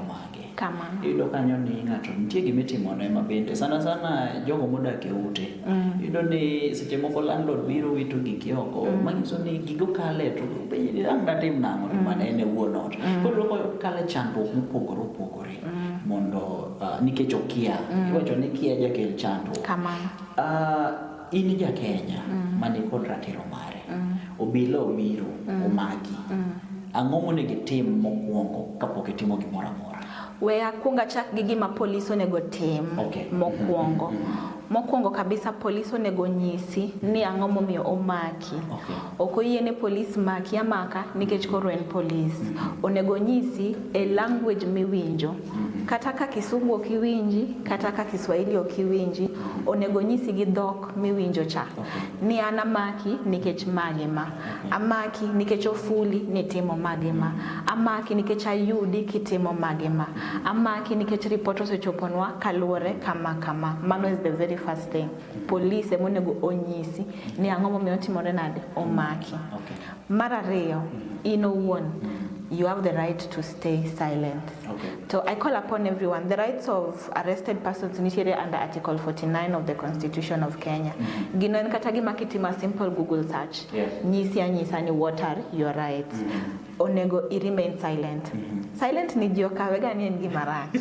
mage. Kamano. Iyudo kanyo ni ng'ato nitie gima itimone ma bende sana sana jogo modak e ute. Mm. Iyudo ni seche moko landlord biro wito giki oko mm. manyiso ni gigo kale to penjni ang' datim nang'o to mm. mana en e wuon ot. Mm. Koro loko kale chandruok mopogore opogore mm. mondo uh, nikech okia. Mm. Iwacho ni kia jakel chandruok. Kamano. Uh, in ja Kenya mm. ma ni kod ratiro mare mm. obila obiro mm. omaki mm. ang'o monego itim mokwongo kapok itimo gimoro amora we akwong achak gi gima polis onego tim okay. mokwongo mm -hmm. mokwongo kabisa polis onego nyisi ni ang'o momiyo omaki okay. ok oyie ne polis maki amaka nikech koro en polis mm -hmm. onego nyisi e language miwinjo kata ka kisungu ok iwinji kata ka kiswahili ok iwinji onego nyisi gi dhok miwinjo cha ni an amaki nikech magi ma amaki nikech ofuli nitimo magi ma amaki nikech ayudi kitimo magi ma amaki nikech ripot osechoponwa kaluwore kama kama mano is the very first thing police emonego onyisi ni ang'o momiyo otimore nade omaki okay. Mar ariyo, in owuon you have the right to stay silent. Okay. So I call upon everyone. The rights of arrested persons initiated under Article 49 of the Constitution of Kenya. Mm-hmm. Gino en kata gima kitima simple Google search. Yes. Nyisi anyisa ni what are your rights. Mm -hmm. Onego i remain silent. Mm -hmm. Silent ni ji okawe ga ni en gima rach.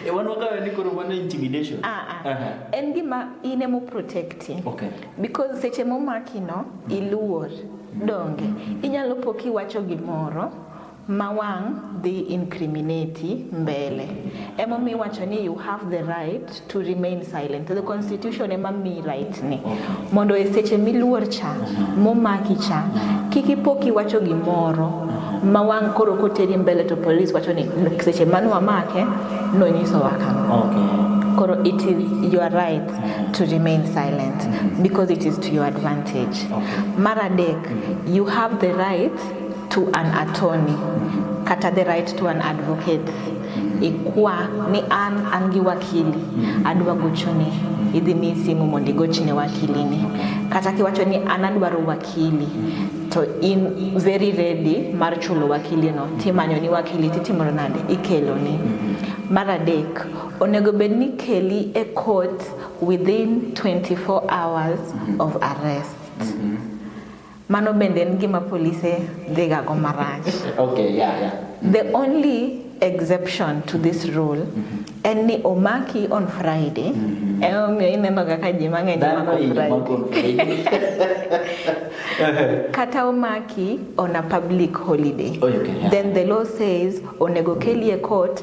E wan wakawe ni koro wan intimidation. Ah ah. Uh -huh. En gima in emo protecting. Okay. because seche momakino iluor donge inyalo po kiwacho gimoro ma wang' dhi incriminate mbele emomiyo iwacho ni you have the right to remain silent the constitution ema mi right ni mondo e seche miluor cha momaki cha kik ipo kiwacho gimoro ma wang' koro koteri mbele to police wacho ni seche mane wamake nonyisowa kama okay. koro it is your right mm-hmm. to remain silent mm-hmm. because it is to your advantage. Okay. Maradek, mm-hmm. you have the right to an attorney mm-hmm. kata the right to an advocate mm-hmm. ikwa ni an an gi wakili mm-hmm. adwa gochoni mm-hmm. idhi mi simu mondo igochne wakilini okay. kata kiwacho ni an adwaro wakili mm-hmm. to in very ready mar chulo wakili no timanyo ni wakili titimoro nade ikelo ni mm-hmm. mar adek Onego bed ni keli e court within 24 hours mm -hmm. of arrest. Mm -hmm. Mano bende en gima polise dhigago marach. okay, yeah, yeah. Mm -hmm. The mm-hmm. only exception to this rule mm -hmm. en ni omaki on Friday mm -hmm. emomiyo ineno kaka ji mang'eny kata omaki on a public holiday oh, okay, yeah. then the law says onego kelie court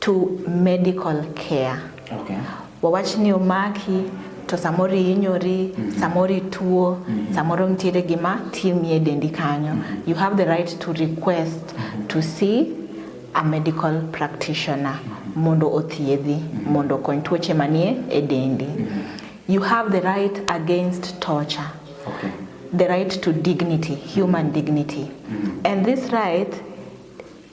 to medical care okay. wawach ni omaki to samoro ihinyori mm -hmm. samoro ituo mm -hmm. samoro nitiere gima timie dendi kanyo mm -hmm. you have the right to request mm -hmm. to see a medical practitioner mm -hmm. mondo othiedhi mm -hmm. mondo okony tuoche manie e dendi mm -hmm. you have the right against torture okay. the right to dignity human mm -hmm. dignity mm -hmm. and this right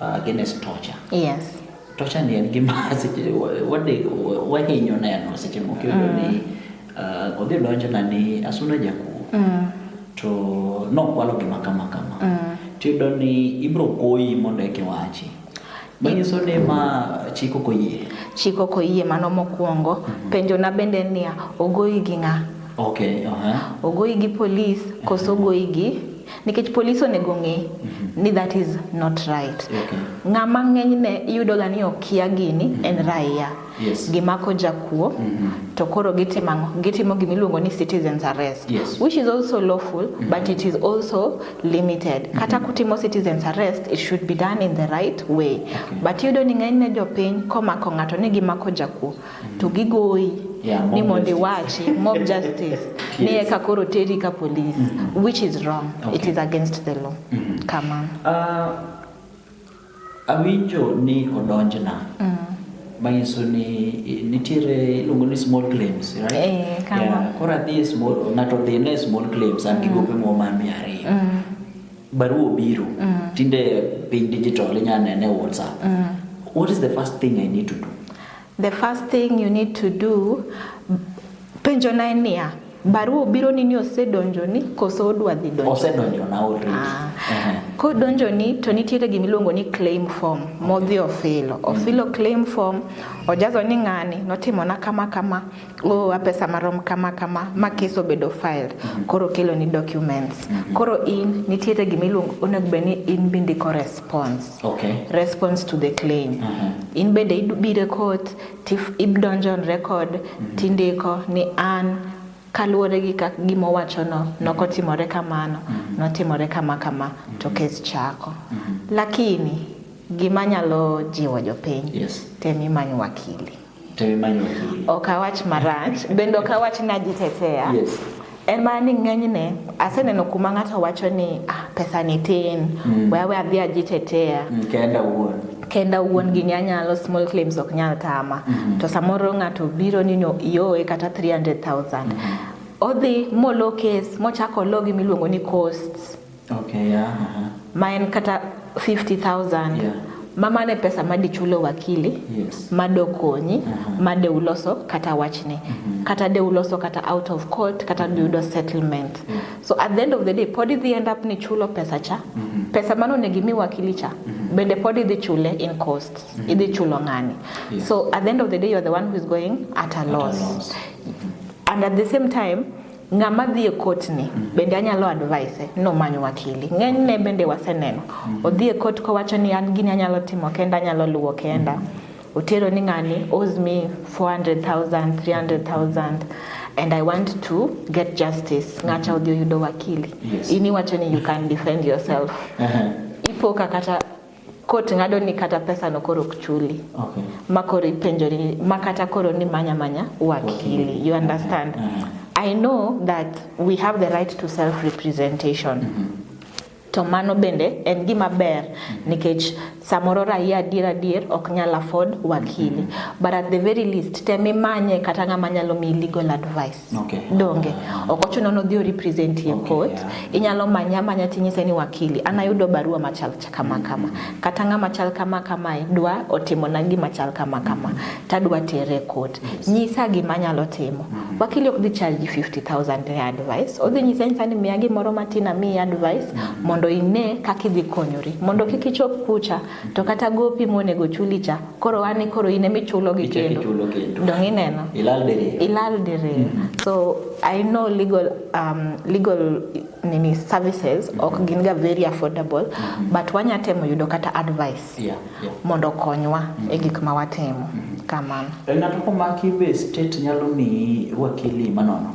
uh, against torture. Yes. Torture ni en gima wahinyo neno seche moko iyudo mm. ni uh, odhi donjona ni asuna jakuo mm. to nokwalo gima kama kama mm. tiyudo ni ibiro koyi mondo eke wachi manyiso ni ma chik ok oyie chik ok oyie mano mokwongo mm -hmm. penjona bende niya ogoyi gi ng'a okay, uh -huh. ogoyi gi polis koso ogoyi gi nikech polis onego ng'e mhm. ni that is not right okay. ng'ama ng'enyne iyudoga ni okia gini mm -hmm. en raia yes. gimako jakuo mm -hmm. to koro gitimo ang'o gitimo gima iluongo ni citizens arrest yes. which is also lawful mm -hmm. but it is also limited mm -hmm. kata kutimo citizens arrest it should be done in the right way okay. but iyudo ni ng'enyne jopiny komako ng'ato ni gimako jakuo to gigoyi yeah, ni mondo iwachi mob justice ni eka koro teri ka police mm -hmm. which is wrong okay. it is against the law mm -hmm. kama uh, ah, awinjo ni odonjna mm -hmm manyiso ni nitiere iluongo ni small claims right? Eh, yeah. koro adhi e small ng'ato dhi ne small claims an gi mm. gope moro mar mia ariyo mm. barua obiro mm. tinde piny digital inyalo nene e whatsapp mm. what is the first thing i need to do The first thing you need to do, penjo na niya, barua obiro ni ni osedonjo ni koso odwa dhi donjo? Osedonjo na already. Ah. Uh -huh. Kodonjo ni to nitiere gima iluongo ni claim form modhi ofilo. Ofilo mm. claim form ojazo ni ng'ani notimo na kama kama oh, apesa marom kama kama ma kes obedo filed mhm. koro kelo ni documents mhm. koro in nitiere gima iluongo onego bed ni in bindiko response okay. response to the claim uh mhm. -huh. in bende ibire court ibdonjo on record uh -huh. tindiko ni an kaluwore gi kak gima owachono nokotimore kamano uh -huh. notimore kama kama uh -huh. to kes chako uh -huh. lakini gima nyalo jiwo jopiny yes. tem imany wakili ok awach marach bende ok awach ni ajitetea yes. en mana ni ng'enyne aseneno kuma ng'ato wacho ni ah, pesa ni tin mm. wewe adhi ajitetea mm, kenda wuon kenda wuon mm. gini anyalo small claims ok nyal tama mm -hmm. to samoro ng'ato biro ni no ioe kata 300000 mm -hmm. odhi molo kes mochako logi miluongo ni costs okay, yeah, uh -huh. ma en kata 50000 yeah. mama ne pesa ma dichulo wakili yes. ma dokonyi uh -huh. ma de uloso kata wachni uh mm-hmm. -huh. kata de uloso kata out of court kata mm -hmm. duyudo settlement yeah. so at the end of the day pod idhi end up ni chulo pesa cha uh mm-hmm. -huh pesa mano onego imi wakili cha mm -hmm. bende pod idhi chule in costs mm -hmm. idhi chulo ng'ani yeah. so at the end of the day you're the one who is going at a loss, at a loss. Mm -hmm. and at the same time ng'ama dhi e kotni mm. bende anyalo advise nomany wakili ng'enyne bende waseneno mm. odhi e kot kowacho ni an gini anyalo timo kenda anyalo luwo kenda mm. otero ni ng'ani owes me 400000 300000 and i want to get justice ng'acha odhi oyudo wakili yes. in iwacho ni you can defend yourself uh -huh. ipo ka kata kot ng'ado ni kata pesa no koro ok chuli okay. ma koro ipenjori ma kata koro ni manya manya wakili you understand mm -hmm. I know that we have the right to self representation mm -hmm to mano bende en gima ber nikech samoro raia adier adier ok nyal afford wakili but at the very least tem imanye kata ng'ama nyalo miyi legal advice Okay. Donge ok ochuno ni odhi represent e okay, court yeah. Inyalo manya manya tinyise ni wakili an ayudo barua machal kama kama kata ng'ama chal kama kama e, dwa otimo na gima chal kama kama tadwa tere court yes. Nyisa gima nyalo timo mm -hmm. Wakili ok dhi charge 50000 ne advice odhi nyisa nyisa ni miya gimoro matin amiyi advice mm -hmm. mondo ine kaka idhi konyori mondo kik ichop kucha to kata gopi monego chuli cha koro an e koro in ema ichulo gi kendo dong ineno ilal diriyo ilal diriyo mm -hmm. so i know legal um, legal nini services mm -hmm. ok mm-hmm. gin ga very affordable mm -hmm. but wanya temo yudo kata advice yeah, yeah. mondo konywa mm -hmm. e mm-hmm. gik ma watimo mm -hmm. kamano e, ng'ato komaki be state nyalo miyi wakili manono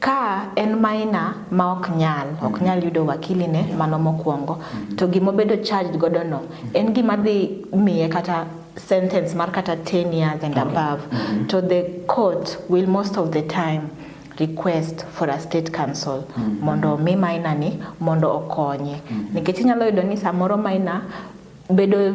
Ka en maina ma ok nyal ok mm-hmm. nyal yudo wakili ne mano mokwongo mm-hmm. to gima obedo charged godo no mm-hmm. en gima dhi miye kata sentence mar kata 10 years and above mm -hmm. to the court will most of the time request for a state council mm -hmm. mondo omi maina ni mondo okonye mm -hmm. nikech inyalo yudo ni samoro maina bedo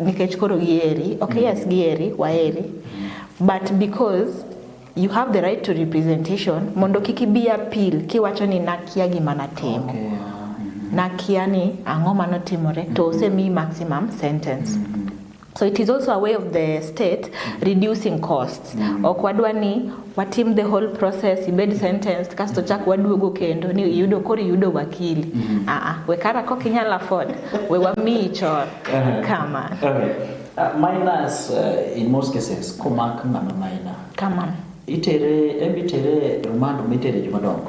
nikech koro gieri okay mm. yes gieri waeri but because you have the right to representation mondo kik ibi appeal kiwacho ni nakia gima natimo okay, yeah. mm-hmm. nakia ni ang'o manotimore mm-hmm. to osemi maximum sentence mm-hmm. so it is also a way of the state mm-hmm. reducing costs mm-hmm. ok wadwa ni watim the whole process ibed sentenced kasto chak waduogo kendo ni iyudo koro iyudo wakili mm -hmm. aa we kara kok inyalo afford we wamiyi chor uh-huh. kama okay. uh, minus uh, in most cases komak ng'ano maina kamano itere embi tere romando mitere jomadongo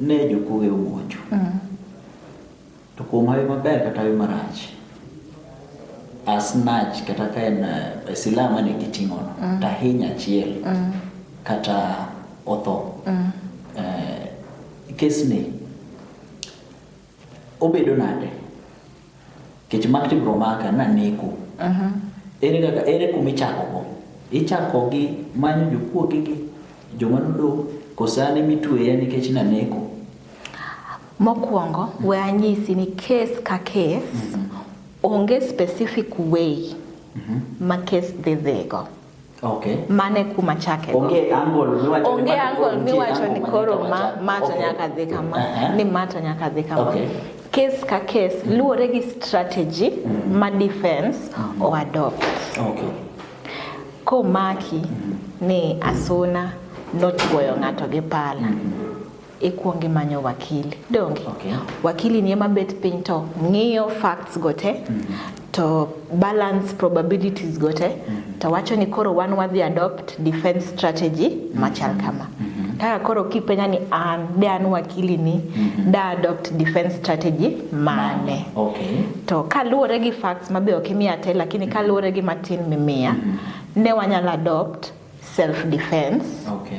Ne jokuoge omonjo. Mm. To kuom hawi maber kata hawi marach, asnach kata ka en uh, silaha mane giting'ono, mm. tahiny achiel mm. kata otho. Mm. Uh, kesni Obedo nade? Kech makti bro maka na neko. Uh mhm. -huh. Ere kaka ere kumi chako go? Ichako gi manyo jokuo gi gi joma nudo kosane mitweya nikech na neko. Mokwongo, we anyisi ni kes ka kes, mm -hmm. onge specific way mm -hmm. ma kes dhi dhigo. Mm -hmm. Okay. Mane kuma chake. Onge angle miwacho. Onge angle miwacho ni koro ma ma to nyaka dhi kama. Uh -huh. Ni ma to nyaka dhi kama. Okay. Case ka case mm. luwore gi strategy mm. ma defense mm. o adopt. Okay. Ko maki mm. ni asuna nochuoyo ng'ato gi pala. Mm. ikwongi manyo wakili donge okay. wakili ni ema bet piny to ng'iyo facts go te mm -hmm. to balance probabilities go te mm -hmm. to wacho ni koro wan wadhi adopt defense strategy mm -hmm. machal kama mm -hmm. kaka koro kipenya ni an de an wakili ni mm -hmm. da adopt defense strategy mane okay. to kaluwore gi facts mabe ok imiya te lakini mhm. kaluwore gi matin mimiya mm -hmm. ne wanyalo adopt self defense okay.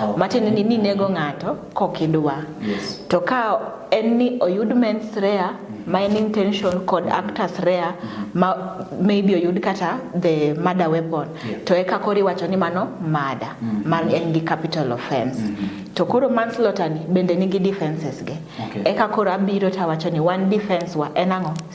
Oh. Matiende ni ninego ng'ato kokidwa. Yes. To ka en ni oyud mens rea mm. ma en intention kod mm. actus rea mm. ma maybe oyud kata the murder weapon yeah. to eka koro iwacho ni mano murder mm. man en gi capital offense mm -hmm. to koro manslaughter ni bende nigi defenses ge okay. eka koro abiro tawacho ni one defense wa en ang'o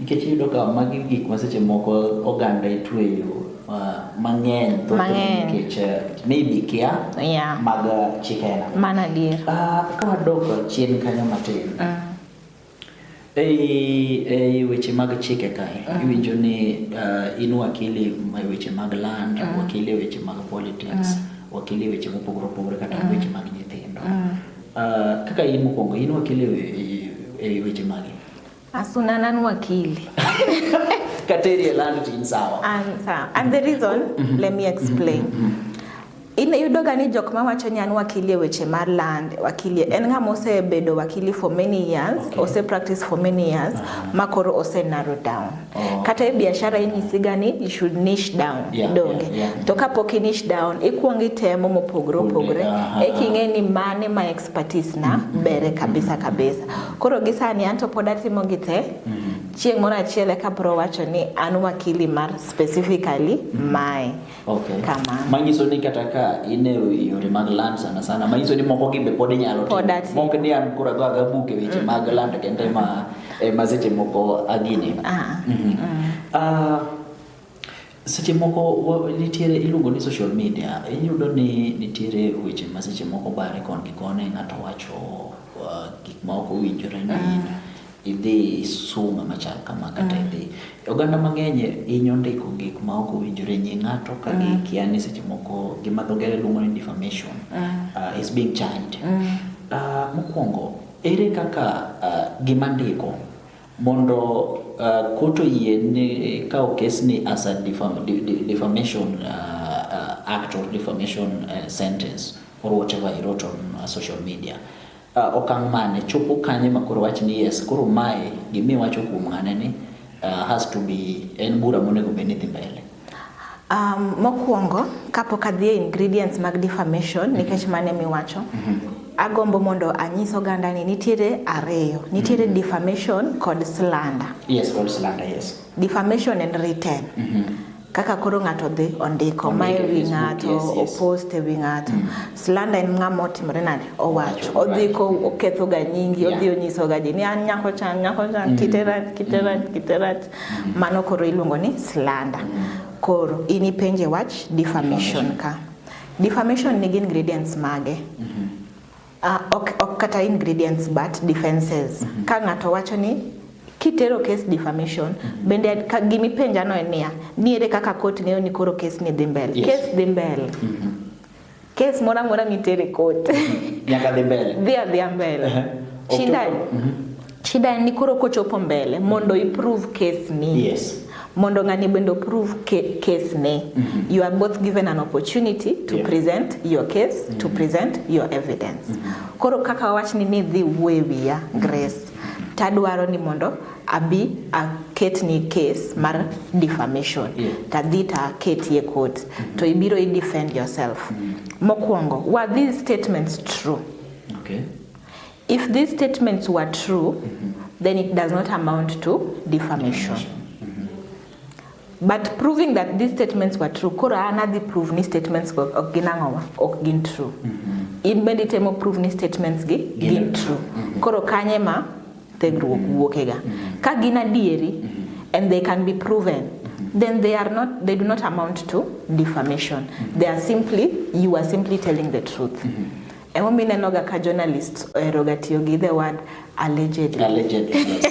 Nikech iyudo ka magi gik ma seche moko oganda itweyo mang'eny nikech eh, maybe kia mag chik aina. Mano adier. Ah, ka wadok chien kanyo matin. Mm. Ei, ei weche mag chike kae uh ah. -huh. iwinjo ni uh, in wakili e weche mag land uh ah. -huh. wakili e weche mag politics uh ah. -huh. wakili e weche mopogore opogore kata uh -huh. weche mag nyithindo uh -huh. uh, kaka in mokwongo in wakili e, e, e weche magi Asunanan wakili. Kateri elando tin sawa. And, uh, and the reason, mm -hmm. let me explain. Mm -hmm. Iyudo ka ni jok ma wacho ni an wakili e weche mar land, wakili en ng'ama osebedo wakili for many years, okay. ose practice for many years uh -huh. ma koro ose narrow down. Oh. Kata e biashara inyisiga ni you should niche down yeah, donge. Yeah, yeah. To kapok i niche down ikuongo itemo mopogore opogore uh -huh. e king'e ni mane ma expertise na mm -hmm. bere kabisa kabisa. Koro gi sani an to pod atimo gi te mm -hmm. chieng' moro achiel eka bro wacho ni an wakili mar specifically mm -hmm. mae okay. kama manyiso ni kata ka in e yore mag land sana sana manyiso ni moko gi be pod inyalo timo mok ni an koro adwa ga buk e weche mm -hmm. mag land kende ma e ma seche moko agini ah. mm -hmm. mm -hmm. uh, Seche moko nitiere iluongo ni social media, iyudo ni nitiere weche ma seche moko bare kon gi koni, ng'ato wacho uh, gik ma ok owinjore ni mm. idhi sum ama chal kama kata mm. idhi. Oganda mang'eny hinyo ndiko gik ma ok owinjore nyi ng'ato ka mm. gikia ni seche moko gima dho ngere luongo ni defamation uh, is being channed. Uh, mokwongo, ere kaka gima ndiko Mondo uh, court oyie ni kawo kes ni as a defam, de, de, defamation uh, uh, act or defamation uh, sentence or whatever he wrote on uh, social media uh, okang' mane chopo kanye ma koro wach ni yes koro mae gimi wacho kuom ng'ane ni uh, has to be en bura monego bed ni dhi mbele Um, mokwongo kapok adhi e ingredients mag defamation nikech mm -hmm. mane miwacho mm -hmm. agombo mondo anyis oganda ni nitiere ariyo nitiere mm -hmm. defamation kod slander yes kod slander yes defamation and written mm -hmm. kaka koro ng'ato dhi ondiko ma e wi ng'ato yes, yes. opost e wi ng'ato mm -hmm. slander en ng'ama otimore nade owacho odhi ko okethoga nyingi yeah. odhi onyisoga ji ni an nyako chan nyako chan mm -hmm. kitera kitera mm -hmm. kitera Mano koro iluongo ni slander. Koro in ipenje wach defamation ka. Defamation nigi ingredients mage? Mm -hmm. Uh, ok, ok kata ingredients but defenses. Mm -hmm. Ka ng'ato wacho ni kitero case defamation mm -hmm. bende ka gimi penja no en niya, niere kaka court ng'eyo ni koro case ni dhi mbele. Yes. Case dhi mbele. Mm -hmm. Kes mora mora mitere kote. Nyaka dhi mbele. Dhi adhi mbele. Shida. Mhm. Shida ni koro kochopo mbele mondo i prove case ni. Yes. Mondo ng'ani bende prove case ni. Mm -hmm. You are both given an opportunity to yeah. present your case, mm -hmm. to mhm. present your evidence. Mm -hmm. Koro kaka wach ni ni dhi wuewiya Grace. Tadwaro ni mondo abi aketni case mar defamation yeah. tadhi to aketie court mm -hmm. to ibiro i defend yourself mm -hmm. mokwongo were these statements true okay. if these statements were true mm -hmm. then it does not amount to defamation mm -hmm. but proving that these statements were true koro anadhi prove ni statements go ok gin ang'owa ok gin true mm -hmm. in bende itemo prove ni statements gi gin true mm -hmm. koro kanye ma Thegruok wuokega. Ka gin adieri and they can be proven then they are not they do not amount to defamation they are simply you are simply telling the truth mm -hmm. Emomi nenoga ka journalist oheroga tiyo gi the word allegedly. Allegedly, yes.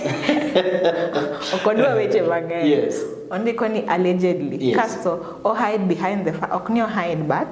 ok odwa weche mang'eny. Yes. Ondiko ni allegedly. Yes. Kasto o hide behind the fact, ok ni o hide but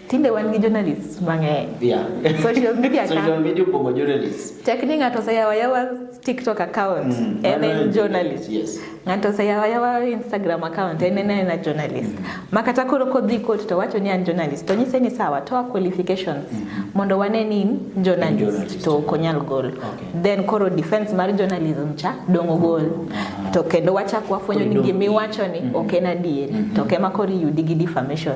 Tinde wan gi journalists mang'eny. Yeah. Social media account. Social media opong'o journalists. Tek ni ng'ato oseyawa yawa TikTok account mm, en en journalist. Yes. Ng'ato oseyawa yawa Instagram account en en en journalist. Mm. Ma kata koro kodhi court to wacho ni an journalist. To nyise ni sawa to qualifications mm -hmm. mondo wane ni journalist, journalist. to konyal gol. Okay. Then koro defense mar journalism cha dongo gol. Mm -hmm. To kendo wachak wafwenyo ni gimiwacho ni mm -hmm. ok en adieri. Mm -hmm. To kema koro yudi gi defamation.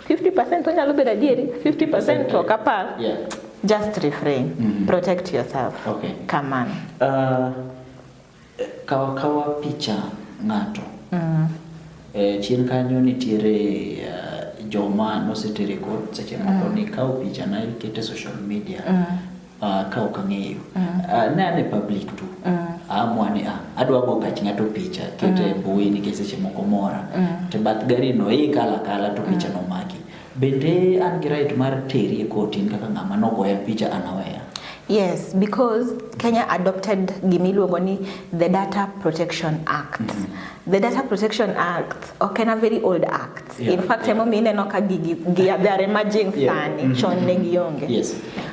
50% onyalo bedo adieri 50% ok apar yeah. just refrain mm -hmm. protect yourself okay. kamano uh, kawa kawa picha ng'ato mm -hmm. e, chien kanyo nitiere uh, joma nosetere kot seche moko mm -hmm. ni kawo picha na ikete social media mm -hmm. uh, ka ok ang'eyo mm. uh, ne ane public tu mm. amwa ni ah, adwa go gach ng'ato picha kete mm. mbui nikech seche moko mora mm. to bath gari no ikala e kala to picha mm. nomaki bende an gi right mar teri e koti kaka ng'ama nogoya picha anaweya Yes, because Kenya adopted gimiluongo ni the Data Protection Act. Mm -hmm. The Data Protection Act ok en a very old act. Yeah, in fact, yeah. emomiyo ineno ka gigi they are emerging yeah. sani mm -hmm. chon ne gionge. Yes.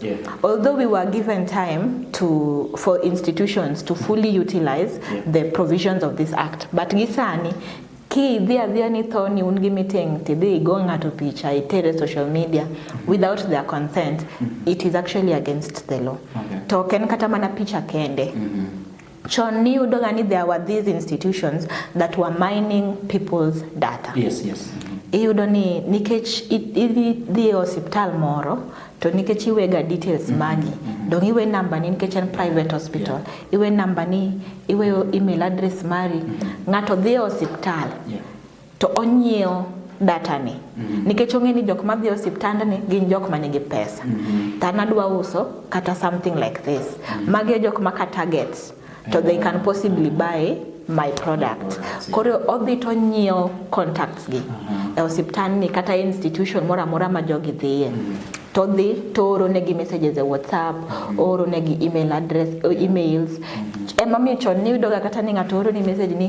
Yeah. Although we were given time to for institutions to fully utilize yeah. the provisions of this act, but gisani ki idhi adhiya ni tho ni un gi meeting tidhi igo ng'ato picha itere social media without their consent mm -hmm. it is actually against the law okay. to ok en kata mana picha kende mm -hmm. Chon ni yudo ga ni there were these institutions that were mining people's data. Yes, yes. Iyudo ni nikech idhi e osiptal moro to nikech iwega details mm-hmm. magi mm-hmm. dong iwe namba ni nikech en private hospital iwe namba ni iwe email address mari mm-hmm. ng'ato dhi e osiptal to onyiewo data ni mm -hmm. nikech ong'e ni jok ma dhi osiptand ni gin jok ma nigi pesa mm -hmm. to an adwa uso kata something like this mm -hmm. magi e jok ma ka target to they can possibly buy my product koro odhi to nyiewo contacts gi mm-hmm. e osiptand ni kata e institution moro amora ma jogi dhiye mm -hmm to dhi to oro negi messages e whatsapp mm-hmm. ooro negi email address uh, emails mm-hmm. ema miyo chon niyudoga kata ni ng'ato oro ni message ni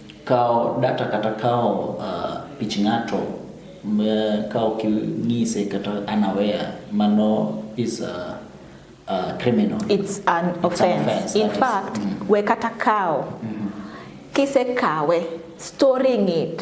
Kawo data kata kawo uh, pich ng'ato kawo king'ise kata unaware mano is a, a criminal. It's an offense. It's an offense In fact, mm -hmm. we kata kawo mm -hmm. kise kawe storing it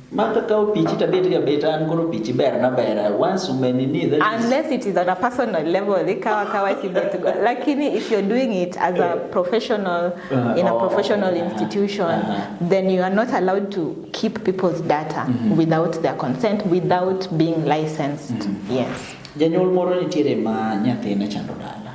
Martha kao pichi to abet ga bet an koro pichi ber na ber once umeni ni that is unless it is on a personal level they kawa kawa kibetu lakini if you're doing it as a professional Uh, in a oh, professional yeah. institution Uh-huh. then you are not allowed to keep people's data without their consent without being licensed yes janyuol moro nitiere ma nyathine chando dala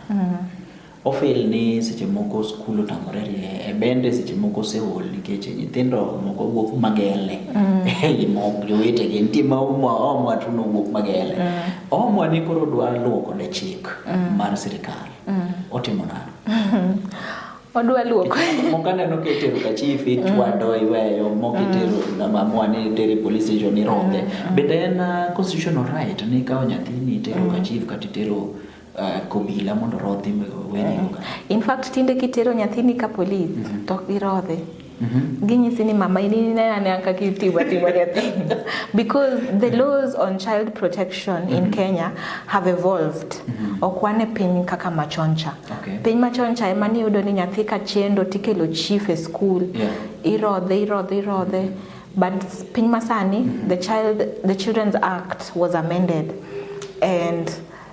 Ofel ni seche moko skul otamore rie e bende seche moko oseol nikech nyithindo moko wuok magele mm. ei mok jowetegi nitie ma omwa tuno wuok magele mm. omwa ni koro dwa luwo kode chik mm. mar sirikal otimo nano odwa luoko moko aneno ka itero ka chief ichwado iweyo moko itero amua ni itere police station ironge bende en uh, constitutional right ni ikawo nyathini itero ka chief kata itero uh, kobila mondo rodhi weni mm. infact tinde kitero nyathini ka polis mm -hmm. to girodhe Mm -hmm. ginyisi ni mama ininananka kitiwa tiwa nyathi because the laws on child protection mm -hmm. in mm-hmm. kenya have evolved mm -hmm. ok wane piny kaka machoncha okay. piny machoncha ema niyudo ni nyathi ka chendo tikelo chief e school yeah. irodhe irodhe irodhe mm -hmm. but piny masani mm -hmm. the, child, the children's act was amended and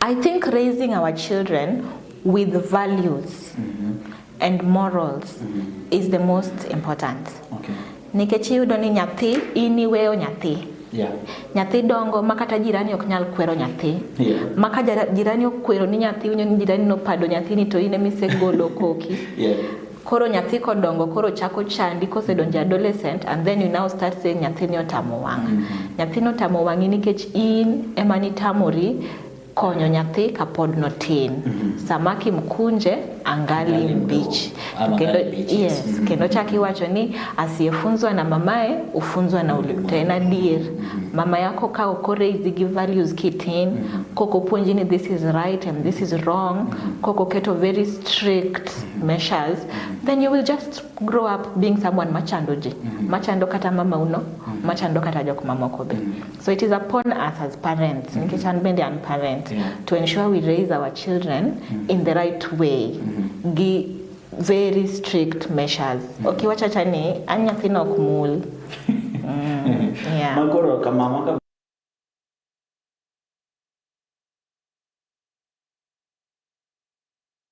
I think raising our children with values mm -hmm. and morals mm -hmm. is the most important. Okay. Nikech iyudo ni nyathi in iweyo nyathi. Yeah. Nyathi dongo ma kata jirani ok nyal kwero nyathi. Yeah. Ma ka jirani okwero ni nyathi winyo ni jirani nopado nyathini to in ema isegolo koki. yeah. Koro nyathi kodongo koro chako chandi kosedonjo adolescent and then you now start saying nyathini otamo wang'a. Mm -hmm. Nyathini otamo wang'i nikech in ema nitamori konyo nyathi kapod notin mm -hmm. samaki mkunje angali mbichi kendo, yes, mm -hmm. kendo chak iwacho ni asiyefunzwa na mamaye ufunzwa na ulimto en adier mm -hmm. mama yako ka okoreisi gi values kitin mm -hmm. kokopuonji ni this is right and this is wrong mm -hmm. kokoketo very strict measures mm -hmm. then you will just grow up being someone machando ji mm -hmm. machando kata mama uno mm -hmm. machando kata jok mamoko be mm -hmm. so it is upon us as parents mm -hmm. nikech an bende an parent yeah. to ensure we raise our children mm -hmm. in the right way mm -hmm. gi very strict measures mm -hmm. okay wachacha ni an nyathino ok mul mm, yeah. makoro kamama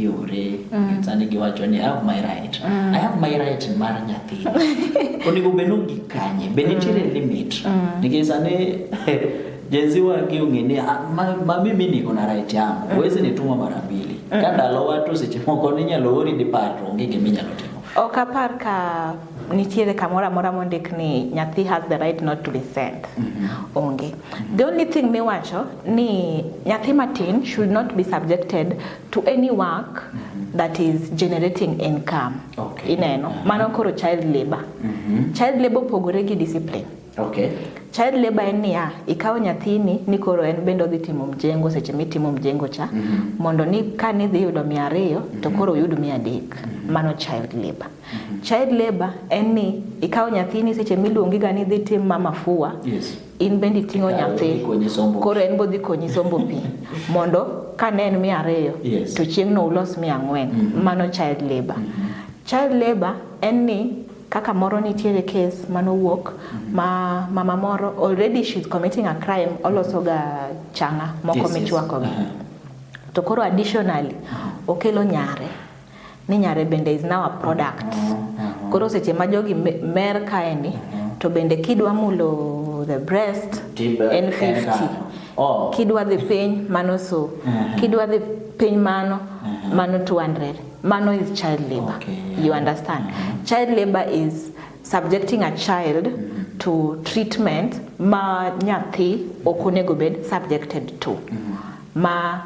kiore mm. sani giwacho ni I have my right mm. I have my right mar nyathi onego bed ni gikanye be nitiere mm. limit mm. nikech sani Jenzi wangi ungini ah, ma, ma mimi niko na right yangu mm. Uwezi nituma mara mbili mm. Kanda lo watu sichimoko ninya lo uri di pato ungi giminya lo timo Oka par ka nitiere kamora mora mondik ni nyathi has the right not to be sent mm -hmm. Onge mm -hmm. The only thing miwacho ni nyathi matin should not be subjected to any work mm -hmm. that is generating income okay. Ineno mm -hmm. Mano koro child labor mm -hmm. Child labor pogore gi discipline Okay. Child labor en niya, ikawo nyathini ni koro en bende odhi timo mjengo seche mitimo mjengo cha mm -hmm. mondo ni ka nidhi yudo mia ariyo mm -hmm. to mhm. koro uyud mia adek mm -hmm. mano child labor. Mm -hmm. Child labor en ni ikawo nyathini seche miluongi ga ni dhi tim mama fua yes. in bende iting'o nyathi koro en bodhi konyi sombo pi mondo ka ne en mia ariyo yes. to chieng'no ulos mia ang'wen mm -hmm. mano child labor. Mm -hmm. Child labor en ni kaka moro nitiere case manowuok mhm. ma mama moro already she's committing a crime oloso ga changa moko yes, michwako yes. Uh-huh. to koro additionally uh-huh. okelo nyare ni nyare bende is now a product uh-huh. koro seche ma jogi mer kaeni to bende kidwa mulo the breast en 50 oh. kidwa dhi piny mano so kidwa dhi piny mano mano 200 Mano is child labor. Okay, yeah. You understand? Mm-hmm. Child labor is subjecting a child mm-hmm. to treatment ma nyathi ok onego bed subjected to. Mm-hmm. Ma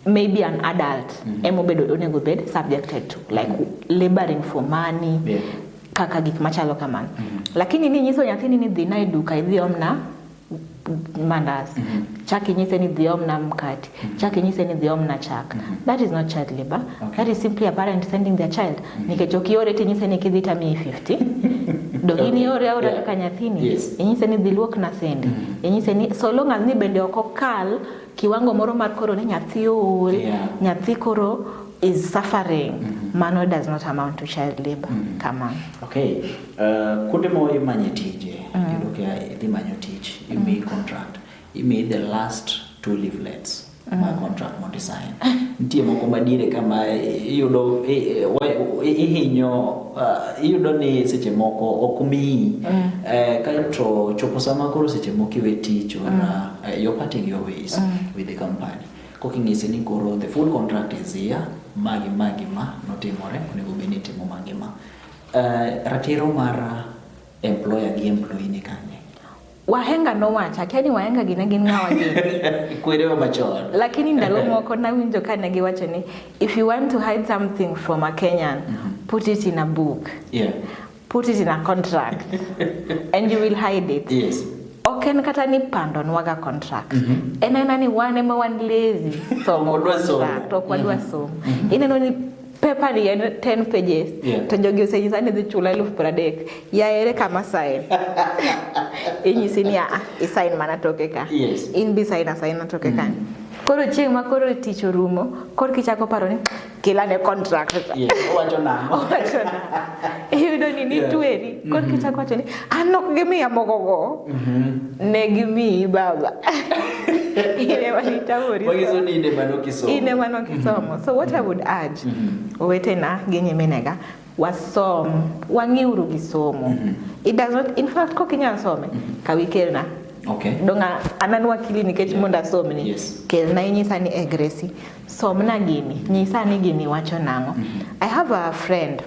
maybe an adult mm-hmm. emobedo onego bed subjected to like mm-hmm. laboring for money. Yeah. Kaka gik machalo kamano. Mm-hmm. Lakini ni nyiso nyathini ni dhi na e duka idhi omna mandas mm -hmm. chak inyise ni dhi omna mkati mm -hmm. chak inyise ni dhi omna chak mm -hmm. that is not child labor okay. that is simply a parent sending their child mm -hmm. nikech ok iore ti inyise ni kidhi tamiyi 50 do okay. ini ore aora yeah. kaka nyathini yes. inyise ni dhi luok na sendi mm -hmm. inyise ni so long as ni bende ok okal kiwango moro mar koro ni nyathi ool yeah. nyathi koro is suffering mm -hmm. mano does not amount to child labor mm -hmm. come on okay Uh, kuonde ma imanye tije mm. yudo ka idhi manyo tich imiyi mm. contract imiyi the last two leaflets mm. ma contract mondo isign nitie moko madiere kama iyudo ihinyo uh, iyudo ni seche moko ok miyi mm. eh, kaeto chopo sama koro seche moko iwe tich or mm. uh, eh, you're parting your ways mm. with the company koking'ise ni koro the full contract is here magi magi ma notimore onego bed ni itimo magi ma Eh, ratiro mar eh, employer gi employee ni kanye? Wahenga nowacho akia ni wahenga gine gin ng'awa gini kwerewa machon lakini ndalo moko nawinjo ka ne giwacho ni if you want to hide something from a Kenyan mm -hmm. put it in a book yeah. put it in a contract and you will hide it yes ok en kata ni pando nwaga contract mm -hmm. en aena ni wan ema wan lazy somo contract ok wadwa mhm. somo mm -hmm. ineno ni paper ni en 10 pages yeah. to jogi osenyisa ni dhi chula elfu piero adek yaere kama sign inyisi ni aa isign mana toke ka yes. in bi sign asigna toke mm. kani koro chieng' ma koro tich orumo koro kichako paro ni kila ne contract iyudo ni nitweri koro kichako wacho ni An nok gimiya mogogo. Ne gimiyi baba. Ine manitamori. Wagizo ni ine manokisomo. Ine manokisomo. So what I would urge owetena gi nyiminega wasom wang'iuru gi somo. It does not in fact kok inyal some kawi kelna. Okay. Donga anan wakili nikech mondo asomni. Yes. Kelna inyisa ni e Gracie somna gini nyisa ni gini wacho nang'o. I have a friend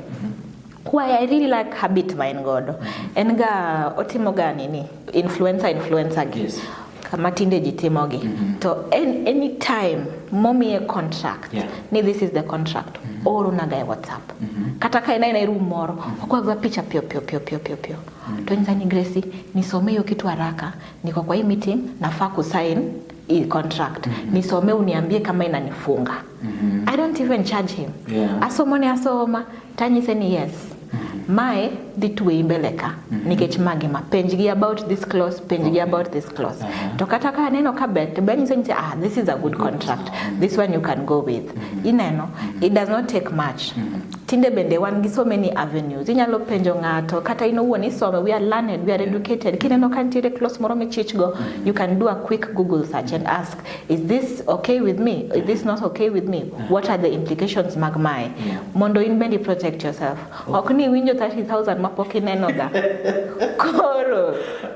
Why I really like habit ma en godo. En ga otimo ga nini? Influencer influencer gi. Yes. Kama tinde ji timogi. Mm -hmm. To en, any time momiye contract. Yeah. Ni this is the contract. Mm -hmm. Oro naga e WhatsApp. Mm -hmm. Kata ka ina ina room moro, mm -hmm. okwa gwa picha pio pio pio pio pio pio. Mm -hmm. To nzani Gracie, nisome hiyo kitu haraka. Niko kwa hii meeting, nafaa kusign hii contract mm -hmm. nisome uniambie kama inanifunga mm -hmm. I don't even charge him yeah. asoma ni asoma tanyise ni yes mm -hmm. mae dhi tweyi mbele ka mm -hmm. nikech magi ma penj gi about this clause penj okay. gi about this clause uh -huh. to kata ka aneno ka ber to banyise ni ah this is a good contract mm -hmm. this one you can go with mm -hmm. ineno mm -hmm. it does not take much mm -hmm. Tinde bende wan gi so many avenues. Inyalo penjo ng'ato kata in owuon isome, we are learned, we are educated. Kineno ka nitiere close moro michich go, you can do a quick Google search and ask, is this okay with me? Is this not okay with me? What are the implications mag mae? Mondo in bende protect yourself. Ok ni winjo 30,000 ma pok ineno ga. Koro.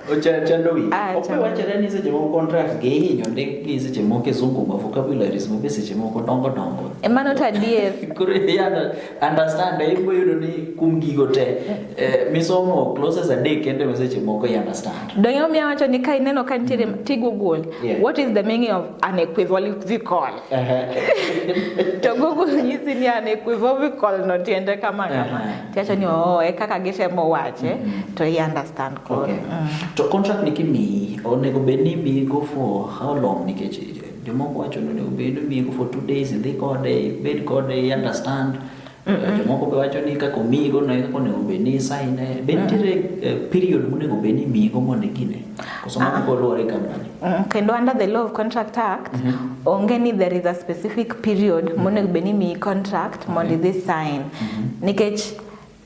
Ochando wi. Ah, ok wachore ni seche moko contract gi hinyo ndik gi seche moko e zungu ma vocabularies ma be seche moko dongo dongo. Emano to adier. Koro idhi under- understand eh, ibo yudo ni kum gigo te eh, misomo clauses adek kende ma seche moko i understand. Donge omiya wacho ni ka ineno ka nitiere ti Google, Yeah. what is the meaning of an equivocal? Ehe. To Google nyisi ni an equivocal no tiende kama kama. Aha. Tiwacho ni oo, e kaka gitemo wache, to i understand koro. Okay. Mm. To contract ni kimiyi onego bed ni imiyi go for how long nikech Jomoko wacho ni onego bed omiego for two days, idhi kode, ibed kode, i understand. Jomoko be wacho ni kaka omigo no kaka onego bed ni isaine. Be nitiere eh, period monego bed ni imigo mondo igine? Koso mano ah. koluwore company? Mm, kendo under the law of contract act, mhm. onge ni there is a specific period mhm. monego bed ni imiyi contract mondo idhi sign. Mhm. Nikech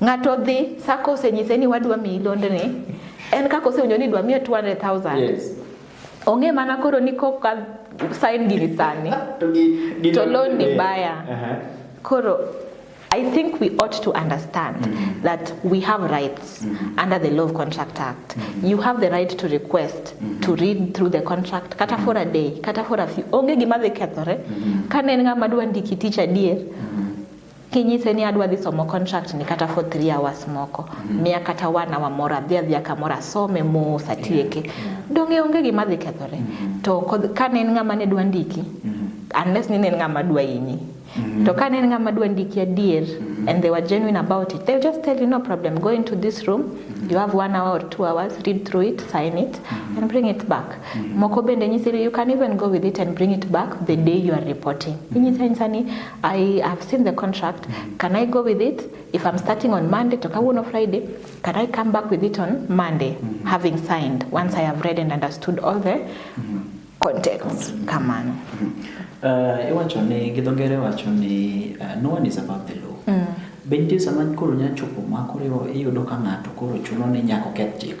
Ng'ato dhi sako osenyise ni wadwa miyi londni, en kaka osewinjo ni dwa miye 200,000. Yes. Ong'e mana koro ni kok sign gini sani to gi gi to loan ni baya. Aha. Koro I think we ought to understand that we have rights under the Law of Contract Act. You have the right to request to read through the contract kata for a day, kata for a few. Onge gima dhi kethore. Kane en ng'ama dwa ndiki tich adier, kinyise ni adwa dhi somo contract ni kata for 3 hours moko mm -hmm. miya kata one hour moro adhi adhi kamoro asome mos atieke yeah. Mm-hmm. donge onge gima dhi kethore mm -hmm. to ka ne en ng'ama ne dwa ndiki mm -hmm. unless ni ne en ng'ama dwa inyi mm -hmm. to ka ne en ng'ama dwa ndiki adier mm -hmm. and they were genuine about it they just tell you no problem go into this room mm -hmm. you have one hour or two hours read through it sign it mm -hmm. and bring it back mm -hmm. moko bende nyisiri you can even go with it and bring it back the day you are reporting mm -hmm. inyisa insani I have seen the contract. Can I go with it? If I'm starting on Monday, to Kawuno Friday, can I come back with it on Monday, mm -hmm. having signed, once I have read and understood all the mm -hmm. contents? Come on. Mm -hmm. uh, iwacho ni gi dho ngere wacho ni uh, no one is above the law. Mm. Be nitie sama koro nyachopo ma koro iyudo ka ng'ato koro chuno ni nyaka oketh chik?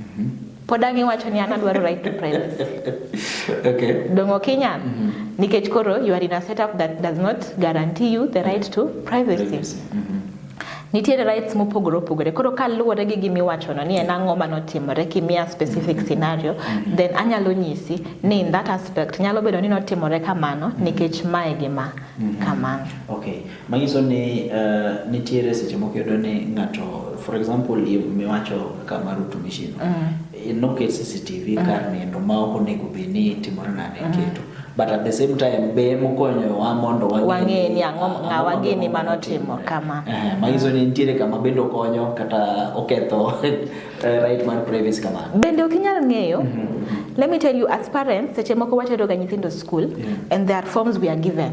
Mhm. Pod ang' iwacho ni an adwaro right to privacy. Okay. Dong' ok inyal. Mhm. Nikech koro you are in a setup that does not guarantee you the right to privacy. Mhm. Nitiere rights mopogore opogore. Koro kaluwore gi gima iwachono ni en ang'o ma notimore kimiya specific scenario, then anyalo nyisi ni in that aspect nyalo bedo ni notimore kamano nikech mae gima kamano. Okay. Manyiso ni uh, nitiere seche moko yudo ni ng'ato for example miwacho kaka mar utumishi no mm. noket CCTV mm. kar nindo ma ok onego bed ni timore nade mm. keto but at the same time be mokonyowa mondo wang'e ni ang'o ng'awa gini mano timo kama eh, manyiso ni nitiere kama bende okonyo kata oketho eh, right mar privacy kamano bende ok inyal ng'eyo mm -hmm. let me tell you as parents seche moko wateroga nyithindo school yeah. and there are forms we are given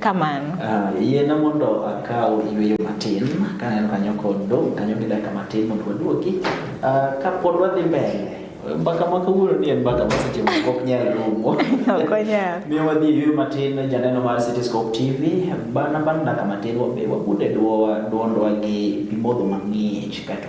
kamano uh, yiena mondo akaw yueyo matin kaneno kanyo kod dong' kanyo gi dakika matin mondo waduoki uh, ah, kapod wadhi mbele mbaka ma kawuono ni en mbaka ma seche moko ok nyal rumo miyo wadhi yueyo matin janeno mar cityscope tv bana bang' dakika matin wabe wabude dwondwa gi pimodho mang'ich kaeto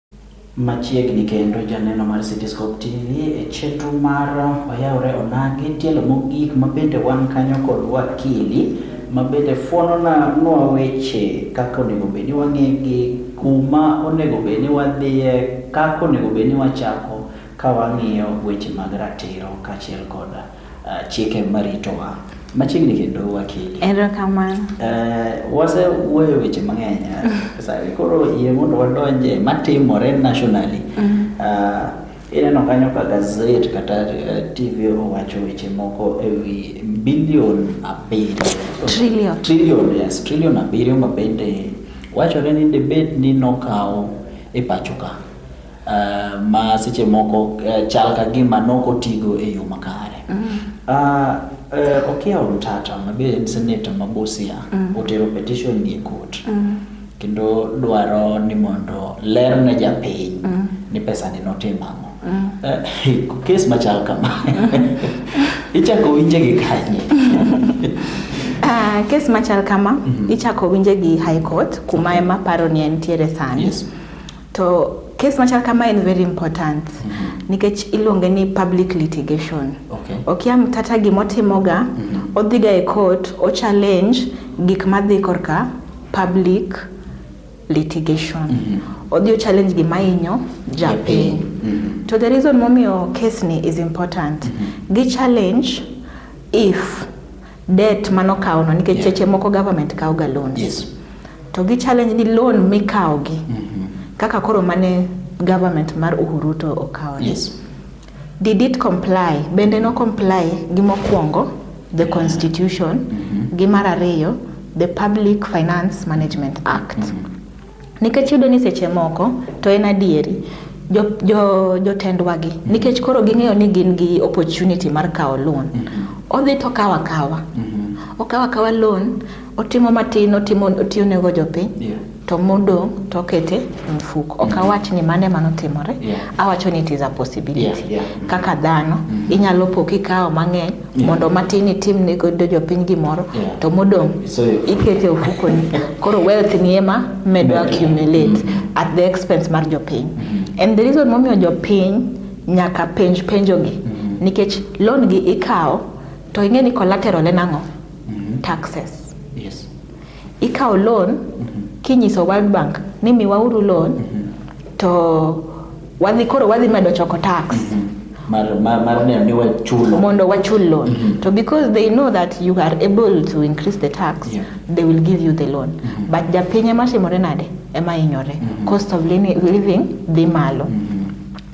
Machiegni kendo janeno mar Cityscope TV e chenro mar Wayawre Onagi tielo mogik ma bende wan kanyo kod wakili ma bende fwonona nwa weche kaka onego bed ni wang'egi, kuma onego bed ni wadhiye, kaka onego bed ni wachako ka wang'iyo weche mag ratiro kaachiel kod uh, chike maritowa machiegni kendo wakili. Erokamano. Uh, wase wuoyo weche mang'eny uh, sawi koro yie mondo wadonje matimore nationally mm. uh, ineno kanyo ka gazet kata uh, TV owacho weche moko e wi bilion abiriyo trillion. trillion, yes, trillion abiriyo ma bende wachore ni debate ni nokawo e pacho ka uh, ma seche moko uh, chal ka gima nokotigo e yo makare mm -hmm. uh, uh, Okia Omtata mabe en seneta ma Busia mm -hmm. otero petition ni e court mm -hmm. kendo dwaro ni mondo ler ne japiny mm -hmm. ni pesa ni notim ang'o mm -hmm. uh, kes machal kama ichako winje gi kanye Uh, kes machal kama mm -hmm. ichako winje gi high court kuma ema paro ni entiere sani yes. To kes machal kama en very important mm -hmm. nikech iluonge ni public litigation. Okay. Okia mtata gimotimoga mm -hmm. odhiga e court o challenge gik madhi korka public litigation. Mm -hmm. Odhi o challenge gima inyo japiny. Mm -hmm. To the reason momiyo case ni is important. Mm -hmm. Gi challenge if debt mano kawo no nikech cheche moko government kawo ga loan yes. to gi challenge ni loan mikawo gi mm -hmm. kaka koro mane government mar Uhuru to okawo yes. did it comply bende no comply gi mokwongo the constitution mm -hmm. gi mar ariyo the Public Finance Management Act mm -hmm. Nikech yudo ni seche moko to en adieri jotendwagi jo, jo nikech koro ging'eyo ni gin gi opportunity mar kawo loan mm -hmm. odhi to kawa kawa mm -hmm. okawa kawa loan otimo matin otimo otiyo nego jopiny yeah. to modong to okete mfuko ok mm-hmm. awach ni mane mano timore yeah. awacho ni it is a possibility yeah, yeah. kaka dhano mm -hmm. inyalo po kikawo mang'eny yeah. mondo matin itim ne godo jopiny gimoro yeah. to modong so, ikete ofukoni koro wealth ni ema medo yeah. accumulate mm -hmm. at the expense mar jopiny mm -hmm. and the reason momiyo jopiny nyaka penj penjogi mm -hmm. nikech loan gi ikawo to ing'e ni collateral en ang'o mm -hmm. taxes Ikawo loan mhm. kinyiso World Bank ni miwauru loan mhm. to wadhi koro wadhi medo choko tax mhm. mar, mar, mar neno ni wachulo mondo wachul loan mm -hmm. to because they know that you are able to increase the tax yeah. they will give you the loan mm -hmm. but japiny ema timore nade ema hinyore mm -hmm. cost of living dhi malo mm -hmm.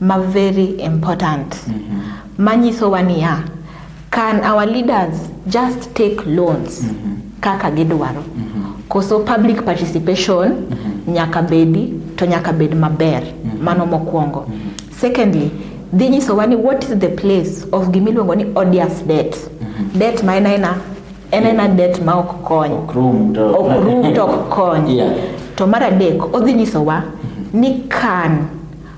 ma very important mm -hmm. manyisowa niya can our leaders just take loans mm -hmm. kaka gidwaro mm -hmm. koso public participation mm -hmm. nyaka bedi to nyaka bed maber mm -hmm. mano mokwongo mm -hmm. secondly dhi nyisowa ni what is the place of gimiluongo ni odious debt mm -hmm. debt ma en aena en aena debt ma ok kony ok rum to ok kony yeah. to mar adek odhi nyisowa mm -hmm. ni kan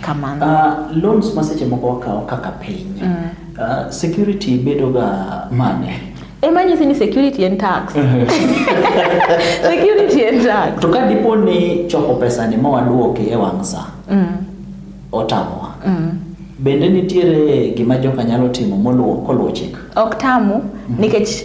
kamano uh, loans ma seche moko wakawo kaka piny mm. uh, security bedoga mane ema nyisi ni security and tax security and tax to ka dipo ni choko pesa ni mawaduoki e wang' sa mm. otamowa mm. bende nitiere gima joka nyalo timo moluwo koluwo chik ok tamu mm. nikech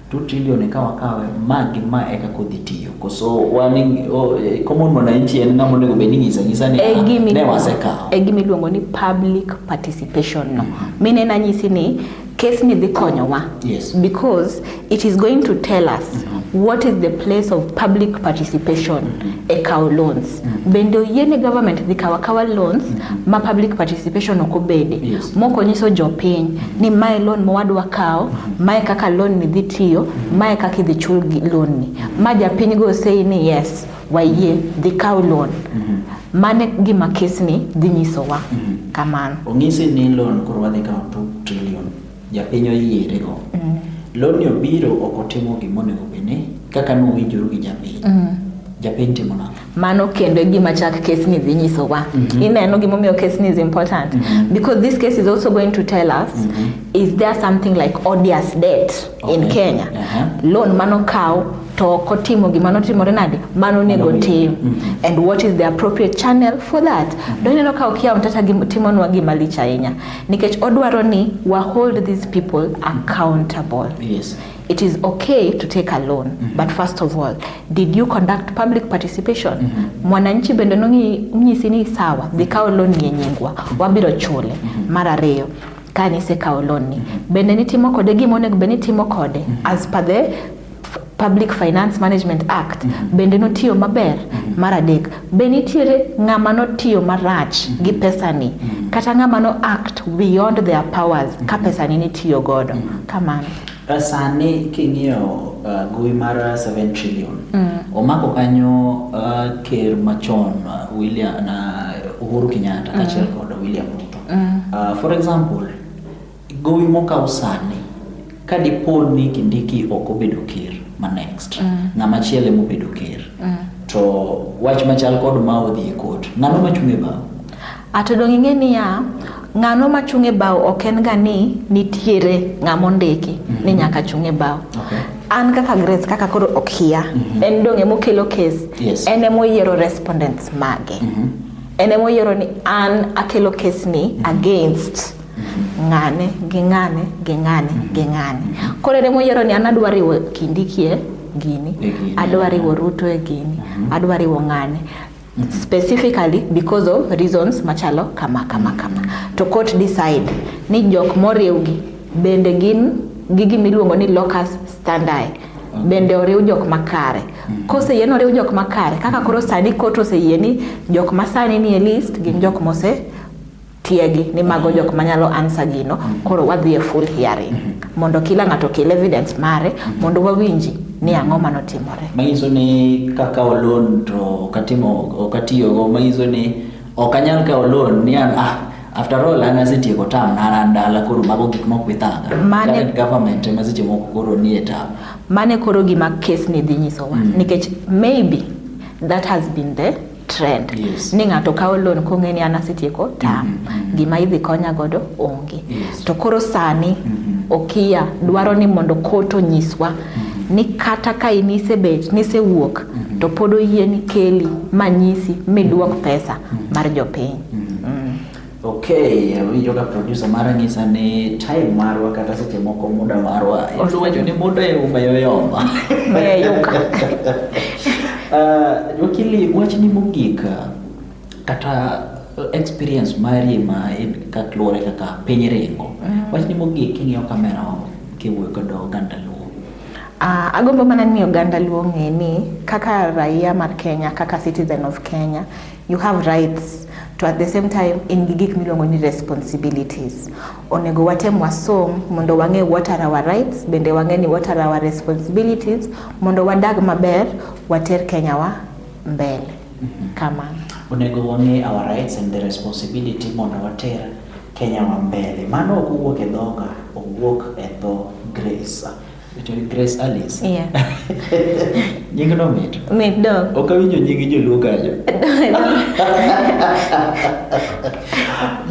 2 trillion eka wakawe ma gi ma eka kodhi tiyo koso wan oh, eh, common mwananchi en ng'ama onego bed ni nyisa nyisa ni e ah, ne wasekawo e gima iluongo ni public participation no mm -hmm. mine nanyisi ni case ni dhi konyowa yes. because it is going to tell us mm -hmm. what is the place of public participation mm -hmm. e kawo loans mm -hmm. bende oyiene government dhi kawo akawa loans mm -hmm. ma public participation ok obede yes. moko nyiso jopiny ni mae loan ma wadwa kawo, mae kaka loan ni dhi tiyo, mae kaka idhi chul loan ni. Ma japiny go sei ni yes, wayie dhi kawo loan. Mhm. Mano e gima kesni dhi nyisowa mhm. kamano. Onyisi ni loan koro wadhi kawo 2 trillion, japiny oyiere go. Mhm. Loan ni obiro ok otimo gima onego obed ni kaka nowinjoru gi japiny. Japiny timo nang'o? mano kendo e gima chak case ni dhi nyisowa mm -hmm. ineno gimomiyo case ni is important mm -hmm. because this case is also going to tell us mm -hmm. is there something like odious debt okay. in kenya uh -huh. loan mano kaw to ok otimo gima notimore nade mano onego tim mm -hmm. and what is the appropriate channel for that mm -hmm. doneno ka okia mtata timonwa gima lich ahinya nikech odwaro ni wa hold these people accountable yes. It is okay to take a loan, mm -hmm. but first of all, did you conduct public participation? Mm -hmm. Mwananchi bende nonyisi ni sawa, dhi kawo loan ni enyingwa, mhm. wabiro chule. Mm -hmm. Mar ariyo, kane isekawo loan ni, mm -hmm. bende nitimo kode gima onego bende nitimo kode mm -hmm. as per the Public Finance Management Act mm -hmm. bende notiyo maber mm -hmm. mar adek be nitiere ng'ama notiyo marach mm -hmm. gi pesani mm -hmm. kata ng'ama no act beyond their powers mm -hmm. ka mhm. pesani nitiyo godo mm -hmm. kamano Eh, sani king'iyo uh, gowi mar 7 trillion mm. omako kanyo uh, ker machon uh, William na uh, Uhuru Kenyatta mm. kaachiel kod William Ruto mm. uh, for example gowi mokaw sani ka dipo ni Kindiki ok obedo ker ma next mm. ng'ama chiele mobedo ker mm. to wach machal kod ma odhi e kot ng'ano machung' e bao Ato dong' ing'e niya, ng'ano ma chung' e bao ok en ga ni nitiere ng'ama ondiki mm -hmm. ni mhm. nyaka chung' e bao. Okay. An kaka Grace kaka koro ok hia, mm -hmm. en dong' ema okelo case, yes. en ema oyiero respondents mage. Mm -hmm. En ema oyiero ni an akelo case ni mm -hmm. against ng'ane gi ng'ane gi ng'ane gi ng'ane koro ere moyiero ni an adwa riwo kindikie gini adwa riwo ruto e gini mhm. adwa riwo ng'ane specifically because of reasons machalo kama kama kama to court decide ni jok moriwgi bende gin gi gima iluongo ni locus standi bende oriw jok makare mm. koseyie ni oriw jok makare kaka koro sani court oseyie ni jok masani nie list gin jok mose tiegi ni mago jok manyalo answer gino koro wadhi e full hearing mondo kila ng'ato okel evidence mare mondo wawinji ni ang'o manotimore manyiso ni kakawo loan to ok atimo ok atiyogo manyiso ni ok anyal kawo loan ni an ah after all an asetieko tam na an dala koro mago gik mok bithanga Mane- Current government ema seche moko koro nie tam mane koro gima kes ni dhi nyisowa nikech maybe that has been the trend yes. ni ng'ato kawo loan kong'e ni an asetieko tam mm -hmm. gima idhi konya godo onge yes. to koro sani mm -hmm. okiya dwaro ni mondo kot onyiswa mm -hmm. ni kata ka in isebet nisewuok mm -hmm. to pod oyie ni keli manyisi midwok pesa mm -hmm. mar jopiny mm -hmm. Okay, winjo ka producer mara nyisa ni time marwa kata seche moko muda marwa. Iluongo wacho ni muda e uma yoyoma. Eh, yuka. Ah, Wakili, wachni mogik ah, kata experience mari ma in ka luwore kaka piny ringo. Wachni mogik king'iyo kamera kiwuoyo kodo oganda Luo. Ah, agombo mana ni oganda Luo ng'e ni kaka raia mar Kenya, kaka citizen of Kenya, You have rights to at the same time in gi gik miluongo ni responsibilities. Onego watem wasom mondo wang'e what are our rights, bende wang'e ni what are our responsibilities mondo wadag maber, water Kenya wa mbele. Mm-hmm. Kama. Onego wang'e our rights and the responsibility mondo water Kenya wa mbele. Mano ok owuok e dhoga, owuok e dho Grace. Richard Grace Alice. Yeah. nying no mit. Mit do. Ok awinjo nying joluo kanyo.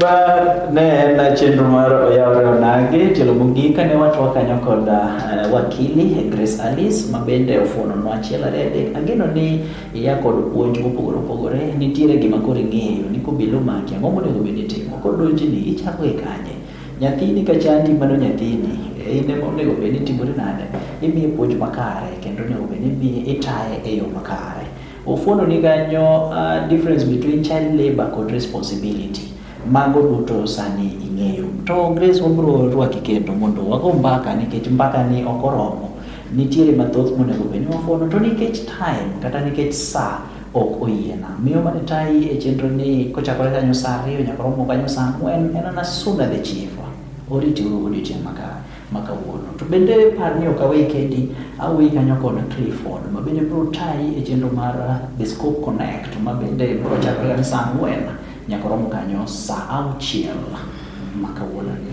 Ba ne en chenro mar oyawre onagi tielo mogik kane watwa kanyo kod uh, wakili Grace Alice ma bende ofuono nwa achiel ariyo adek. Ageno ni iya kod puonj mopogore opogore nitiere gima koro ing'eyo ni kobilo maki ang'o monego bed ni itimo kodonji ni ichako e kanye Nyathini ka chandi mano nyathini e, in ema onego bed ni timori nade imiye puonj makare kendo onego bed ni itaye e yo makare ofuono ni kanyo uh, difference between child labor kod responsibility mago duto sani ing'eyo to grace wabro rwaki kendo mondo wago mbaka nikech mbaka ni ok oromo nitiere mathoth monego bed ni wafuono to nikech time kata nikech saa ok oyiena. Miyo mane tayi e chenro ni kochakore kanyo saa ariyo nyaka romo kanyo saa ang'wen en ana soon as the chief. Oriti uru odiochieng' maka ma kawuono. To bende par ni ok aweyi kendi, aweyi kanyo kod Clifford ma bende biro tayi e chenro mar uh, The Scope Connect ma bende biro chakore kanyo saa ang'wen nyaka romo kanyo saa auchiel ma kawuono ni.